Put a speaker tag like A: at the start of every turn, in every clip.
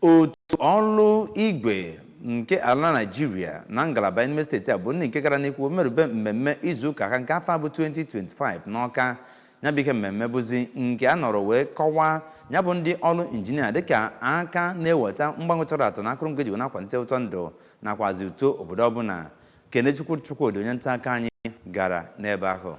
A: otu ọrụ igwe nke ala naijiria na ngalaba n'ime steeti a bụ ndị nke gara n'ihu merube mmemme izu ụka ha nke afọ a bụ 2025 n'ọka ya bụ ihe mmemme bụzi nke a nọrọ wee kọwaa nya bụ ndị ọrụ injinia dịka aka na-eweta mgbanwe tọrọ atọ na akụrụngwa eji wee na-akwalite ụtọ ndụ nakwazi uto obodo ọbụla kenechukwu chukwudi onye nta akụkọ anyị gara n'ebe ahụ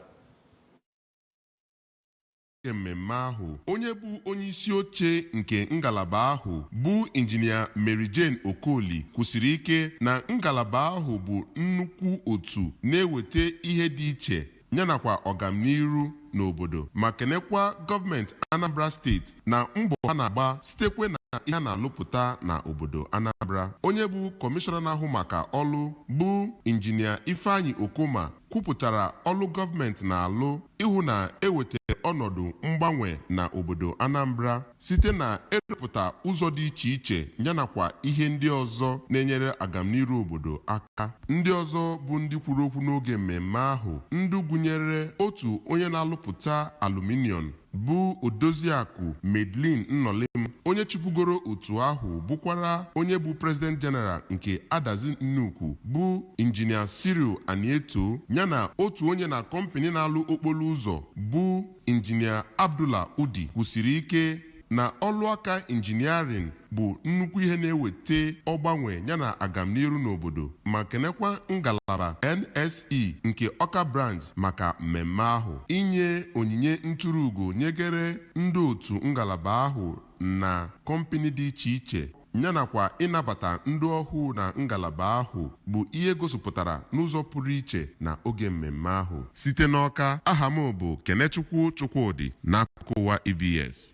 B: N'oge mmemme ahụ, onye bụ onyeisi oche nke ngalaba ahụ bụ Injinia Mary Jane Okoli kwusiri ike na ngalaba ahụ bụ nnukwu otu na-eweta ihe dị iche yanakwa ọgamniru n'obodo ma kenekwa gọọmenti Anambra steeti na mbọ ha na-agba sitekwe na ihe a na-alụpụta na obodo Anambra. Onye bụ kọmishọna na-ahụ maka ọlụ bụ Injinia Ifeanyi Okoma kwupụtara ọlụ gọọmenti na-alụ ịhụ na ewetara ọnọdụ mgbanwe na obodo Anambra site na ịrụpụta ụzọ dị iche iche yanakwa ihe ndị ọzọ na-enyere agamniru obodo aka. Ndị ọzọ bụ ndị kwuru okwu n'oge mmemme ahụ ndị gụnyere otu onye na-alụpụta aluminium bụ Odoziakụ Madeline Nnolim, onye chịbugoro otu ahụ bụkwara onye bụ President General nke Adazi Nnukwu bụ Injinia Cyril Anieto yana otu onye na kọmpịnị na-alụ okporo ụzọ bụ Injinia Abdullah Udi kwusiri ike na ọlụaka injiniarin bụ nnukwu ihe na-eweta ọgbanwe yana agamniru n'obodo ma kenekwa ngalaba NSE nke Ọka Branch maka mmemme ahụ. Inye onyinye nturu ugo nyegere ndị otu ngalaba ahụ na kọmpịnị dị iche iche yanakwa ịnabata ndị ọhụụ na ngalaba ahụ bụ ihe gosipụtara n'ụzọ pụrụ iche na oge mmemme ahụ. Site n'Ọka, aha m bụ Kenechukwu Chukwudi n'akụkọ ụwa ABS.